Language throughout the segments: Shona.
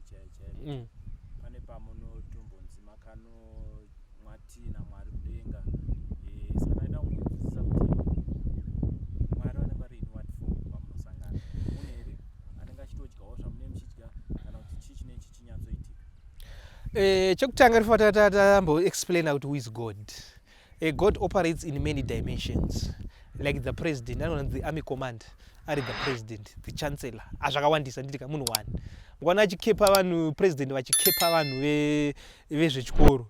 chaiyo chaiyo mm. pane pamunotombonzi makano mwatii namwari kudenga eh, saka ndaida kungonzwisisa kuti mwari vanenge vari in what form pamunosangana mune here anenge achitodyawo zvamune muchidya kana kuti chii chine chi chinyatsoitika eh, chekutanga rifa tatamboexplaina kuti who is god A eh, God operates in many dimensions like the president anona the army command ari the president the chancellor azvakawandisa ah, nditika munhu one mukwana achikepa vanhu president vachikepa vanhu vezvechikoro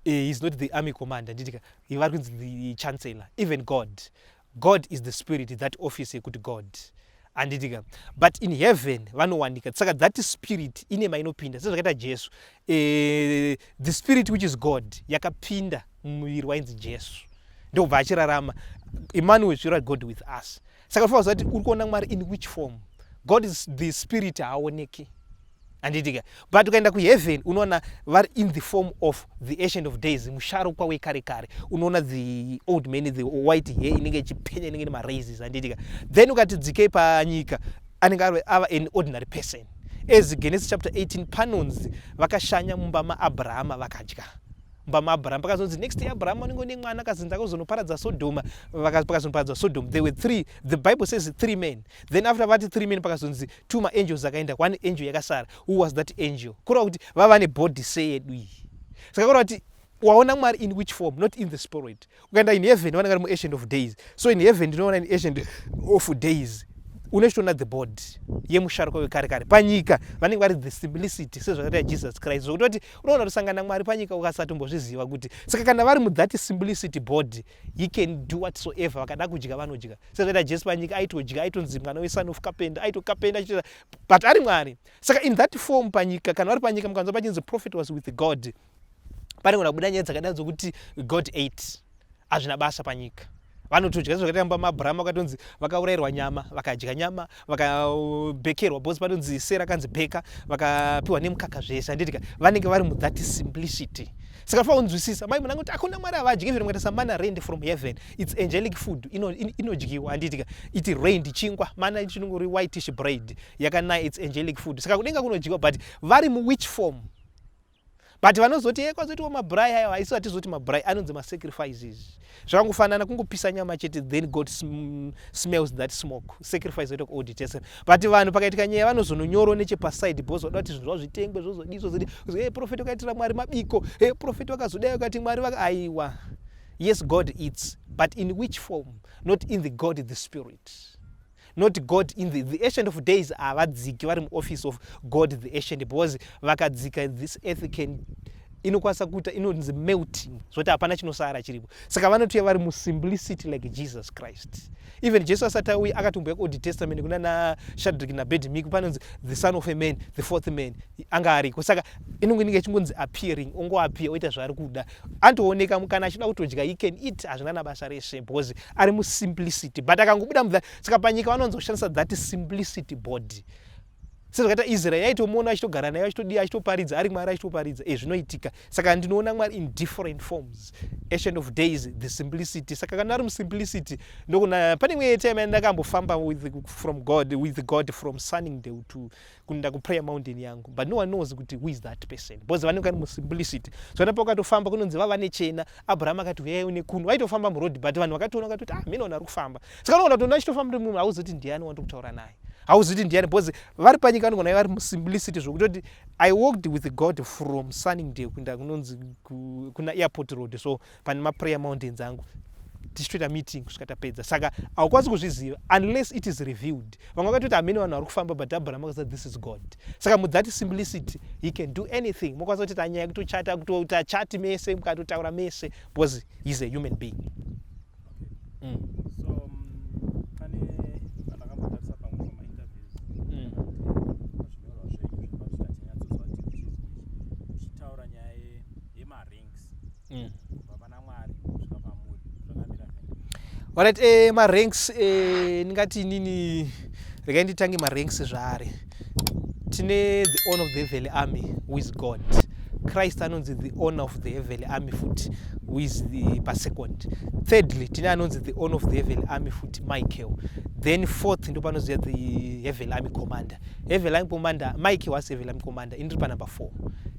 eh, he's not the army command anditika vari kunzi the chancellor even god God is the spirit that office yekuti God anditika but in heaven vanowanika saka that spirit ine mainopinda sezvakaita jesu e, the spirit which is god yakapinda mumuviri wainzi jesu ndokubva achirarama emmanuel zvira god with us saka unofanira kuziva kuti uri kuona mwari in which form god is the spirit haaoneki andiitika but ukaenda kuheaven unoona vari in the form of the ancient of days musharukwa wekare kare unoona the old man the white hair inenge ichipenya inenge nemaraises andiitika then ukati dzikei panyika anenge ava an ordinary person as genesis chapter 18 panonzi vakashanya mumba maabrahama vakadya mumba maabrahama pakazonzi next day abrahama unenge une mwana akazinzi akazonoparadza sodhoma pakazonoparadza sodhoma there were three the bible says three men then after vati three men pakazonzi two maangels akaenda one angel yakasara who was that angel kureva kuti vava nebody seyedu iyi saka kureva kuti waona mwari in which form not in the spirit ukaenda in heaven vanenge vari muancient of days so in heaven ndinoona in ancient of days unochitoona the body yemusharuka wekare kare panyika vanenge vari the simplicity sezvakaita jesus christ zvokutoti unoona kusangana mwari panyika ukasatombozviziva kuti saka kana vari muthati simplicity body he can do whatsoever vakada kudya vanodya sezvaita jesu panyika aitodya aitonzi mwana weson of kapenda aitokapenda achitoita but ari mwari saka in that form panyika kana vari panyika mukanzwa pachinzi prophet was with god panengona kubuda nyaya dzakadai dzokuti god ate hazvina basa panyika vanotodya zvakaita mba maabrahama vakatonzi vakaurayirwa nyama vakadya nyama vakabhekerwa bhonzi panonzi sera kanzi bheka vakapiwa nemukaka zvese handitika vanenge vari muthat simplicity saka fa unzwisisa mai munanga kuti akuna mwari avadyi even mukaita samana rained from heaven its angelic food inodyiwa ino handitika iti rained chingwa mana chinonge uri whitish braid yakanaya its angelic food saka kudenga kunodyiwa but vari muwhich form but vanozoti e eh, kwazotiwo mabrai ayo haiso hatizoti mabrai anonzi masacrifices zvakangofanana kungopisa nyama chete then god sm smells that smoke sacrifice oita kuaudit yese but vanhu pakaitika nyaya vanozononyoro nechepaside bcause vada kuti zvinhu zvavo zvitengwe zvozodii zvozodii e eh, profeti wakaitira mwari mabiko e eh, profeti wakazodai wakati mwari vaka aiwa yes god eats but in which form not in the god the spirit not god in the, the ancient of days havadziki vari muoffice of god the ancient because vakadzika this earth can inokwanisa kuita inonzi melting zvoti hapana chinosara chiripo saka vanotouya vari musimplicity like jesus christ even jesu asati auye akatombuya kuold testament kuna nashadrik nabedmiko panonzi the son of a man the fourth man anga ariko saka inonge inenge ichingonzi appearing ongoappear oita zvaari kuda antooneka mukana achida kutodya he can eat hazvina nabasa rese because ari musimplicity but akangobuda mudha saka panyika vanonzi kushandisa that simplicity body sezvakaita israel yaitomuona achitogara nayo achitodii achitoparidza ari mwari achitoparidza e zvinoitika saka ndinoona mwari in different forms ancient of days the simplicity saka kana ari musimplicity ndokuna pane imwe time ndakambofamba from god with god from sunning day to kuenda kuprayer mountain yangu but no one knows kuti who is that person because vanenge vari musimplicity so vana pakatofamba kunonzi vava nechena abraham akati uyai une kuno vaitofamba muroad but vanhu vakatoona vakati kuti ah mhene vanhu vari kufamba saka unoona kuti unachitofamba uri munhu hauzoti ndiani wanda kutaura naye hauzoti ndiani because vari panyika vanogona vari musimplicity zvokutoti i walked with god from sunning day kuenda kunonzi kuna airport road so pane maprayer mountains angu tichitoita meeting kusvika tapedza saka haukwanisi kuzviziva unless it is revealed vamwe vakatoti hamene vanhu vari kufamba but abraham akaza this is god saka mudzati simplicity he can do anything mokwanisa kuti tanyaya kutochata kutoita chati mese mukatotaura mese because heis a human being mm. so, um, mm. kubva pana mwari kusvika pamuri zvakamira Alright, eh, maranks eh, ndingati nini regai nditange maranks zvaari tine the owner of the heavenly army who is god christ anonzi the owner of the heavenly army futi who is the pasecond thirdly tine anonzi the owner of the heavenly army futi michael then fourth ndo panoziva the heavenly army commander heavenly army commander michael was heavenly army commander ini tiri panumber four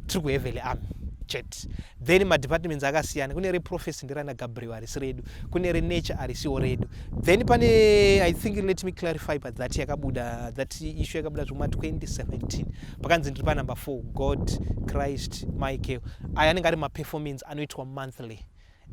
tiri kuheavenly army chet that then madepartments akasiyana kune reprofesi nderana gabriel harisi redu kune renature harisiwo redu then pane i think let me clarify but that yakabuda that issue yakabuda zvekuma 2017 pakanzi ndiri panumber 4 god christ michael aya anenge ari maperformance anoitwa monthly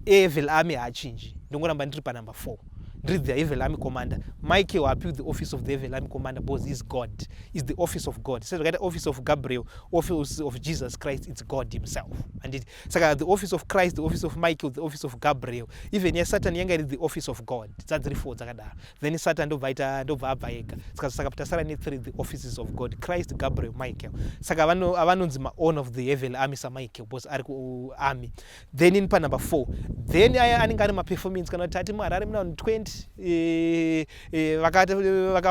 Evil Army haachinji ndongoramba ndiri panumber 4 ndiri the Evil Army commander Mike waapiwi the office of the Evil Army commander because is God is the office of God sezvakaita office of Gabriel office of Jesus Christ it's God himself anditi saka the office of Christ the office of Michael the office of Gabriel even ya Satan yanga iri the office of God dzadziri 4 dzakadaro then Satan ndobva aita ndobva abva ega saka saka tasara ne 3 the offices of God Christ Gabriel Michael saka vanonzi ma own of the Evil Army sa Michael because ari ku army then in panumber four then aya anenge ari maperformance kana kuti ati muharare muna 20 eh, eh,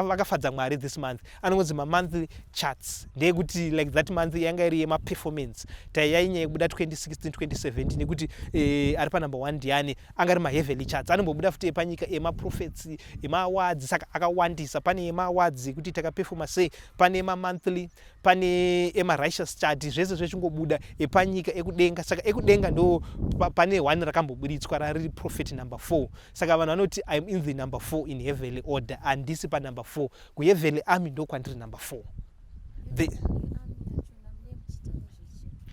vakafadza mwari this month anongonzi mamonthly charts ndeyekuti like that month yanga iri yemaperformance taiyainya yekubuda 2016 2017 nekuti eh, ari panumber one ndiani anga ari maheavily charts anombobuda futi epanyika emaprofets emaawards saka akawandisa pane emaawards ekuti takaperfoma sei pane mamonthly pane emarighteous chadi zvese zvechingobuda epanyika ekudenga saka ekudenga ndo pane one rakamboburitswa rariri prophet number four saka vanhu vanoti iam in the number four in heavenly order handisi panumber four kuheavenly army ndokwandiri number four the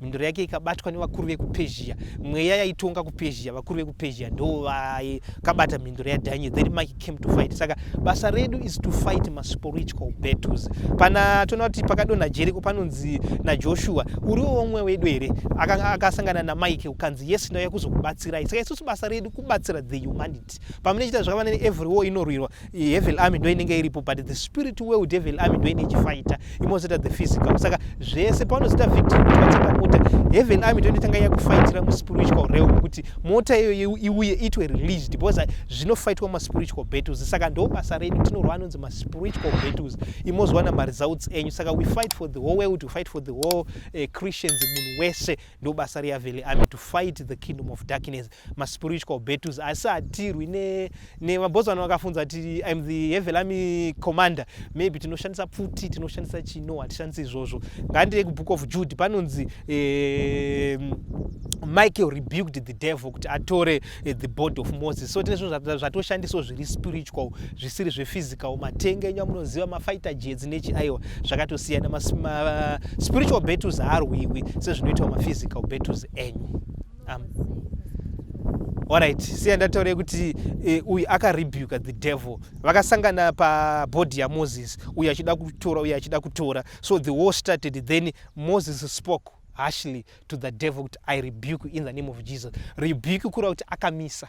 mhinduro yake ikabatwa nevakuru vekupezhiya mweya yaitonga kupezhiya vakuru vekupezhiya ndo vakabata mhinduro yadaniel then mike came to fight saka basa redu is to fight maspiritual battles pana toona kuti pakadonha jeriko panonzi najoshua uriwo womwe wedu here akasangana namike ukanzi yes ndauya kuzokubatsirai saka isusu basa redu kubatsira the humanity but pamene chita zvakava nene every war inorwirwa hevel army ndo inenge iripo but the spirit world hevel army ndo ine chifaita imozoita the physical saka zvese paunozita victim kuti vatenga mota hevel army ndo inotanga yakufaitira muspiritual realm kuti mota iyoyo iuye itwe released because zvinofaitwa maspiritual battles saka ndo basa redu tinorwa anonzi maspiritual battles imozowana maresults enyu saka we fight for the whole world we fight for the whole uh, christians munhu wese ndo basa rehevel army to fight the kingdom of darkness maspiritual battles asi hatirwi nemabhozi vana vakafunza kuti im the hevelami commander maybe tinoshandisa pfuti tinoshandisa chino hatishandisi izvozvo ngandie kubook of jude panonzi eh, michael rebuked the devil kuti atore eh, the body of moses so tine zvinhu zvatoshandiswa zviri spiritual zvisiri zvephysical matenga enyu amunoziva mafighter jets nechi aiwa zvakatosiyana maspiritual battles haarwiwi sezvinoitawo maphysical battles enyu um, alright siya ndataure kuti eh, uyu akarebuka the devil vakasangana pabhodhi yamoses uyu achida kutora uyu achida kutora so the war started then moses spoke harshly to the devil kuti i rebuke in the name of jesus rebuke kureva kuti akamisa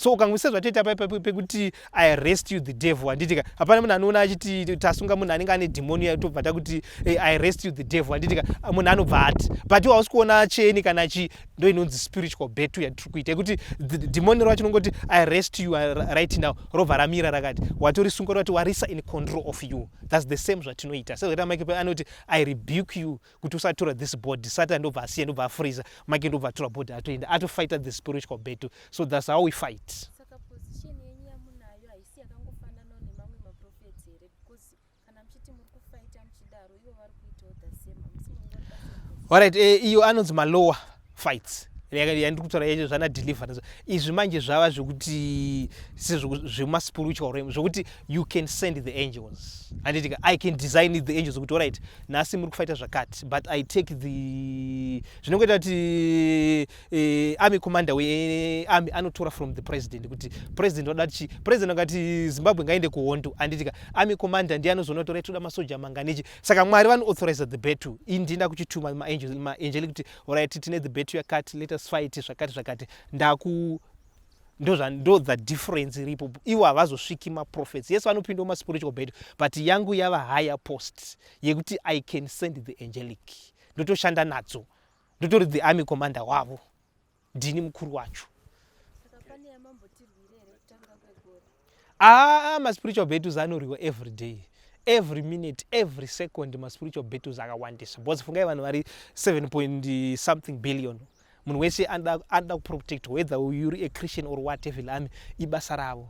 so ukangoisa zvatete apa pekuti i rest you the devil handiti ka hapana munhu anoona achiti tasunga munhu anenge ane dhimoni uya tobva takuti hey, eh, i rest you the devil handiti ka ah, munhu anobva ati but iwe hausi kuona cheni kana chi ndo inonzi spiritual betu yatiri kuita yekuti dhimoni racho nongoti i rest you uh, right now robva ramira rakati watorisunga rati warisa in control of you thats the same zvatinoita sezvataamakepe anoti i rebuke you kuti usatura this body satan ndobva asiya ndobva afreezer make ndobva atura body atoenda atofighter the spiritual battle so thats how we fight so, Alright, eh, iyo anonzi malowa fights yandiri kutaura yacho zvana deliver izvi manje zvava zvekuti zvemaspiritual realm zvekuti you can send the angels anditika i can design the angels kuti orit nhasi muri kufaita zvakati but i take the zvinongoita kuti eh, army commander wearmy anotora from the president kuti president wada chi president akati zimbabwe ngaende kuhondo anditika army commander ndiye anozoona kuti orit toda masoja manganechi saka mwari vanoauthorize the battle ii ndinda kuchituma maangel kuti orit tine the betu yakati let us fight zvakati zvakati ndaku ndo the difference iripo ivo havazosviki maprofets yes vanopinda maspiritual betu but yangu yava higher post yekuti i can send the angelic ndotoshanda nadzo ndotori the army commander wavo ndini mukuru wacho aa maspiritual battles anorwiwa every day every minute every second maspiritual battles akawandisa bcause fungai vanhu vari 7 point something billion munhu wese anoda kuprotect whether uri a christian or what evil army ibasa ravo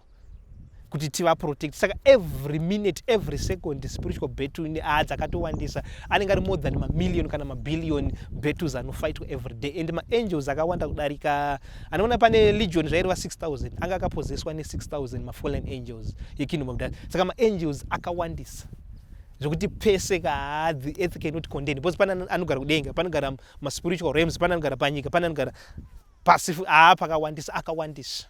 kuti tivaprotect saka every minute every second spiritual battle ne aa ah, dzakatowandisa anenge ari more than mamillion kana mabillion battles anofaitwa every day and maangels akawanda kudarika anoona pane legion zvaireva 6000 anga akapozeswa ne6000 mafallen angels yekingdom of darkness saka maangels akawandisa zvekuti pese kaa the earth cannot contain because pane anogara kudenga panogara maspiritual rams pane anogara panyika pane anogara pasi aa pakawandisa akawandisa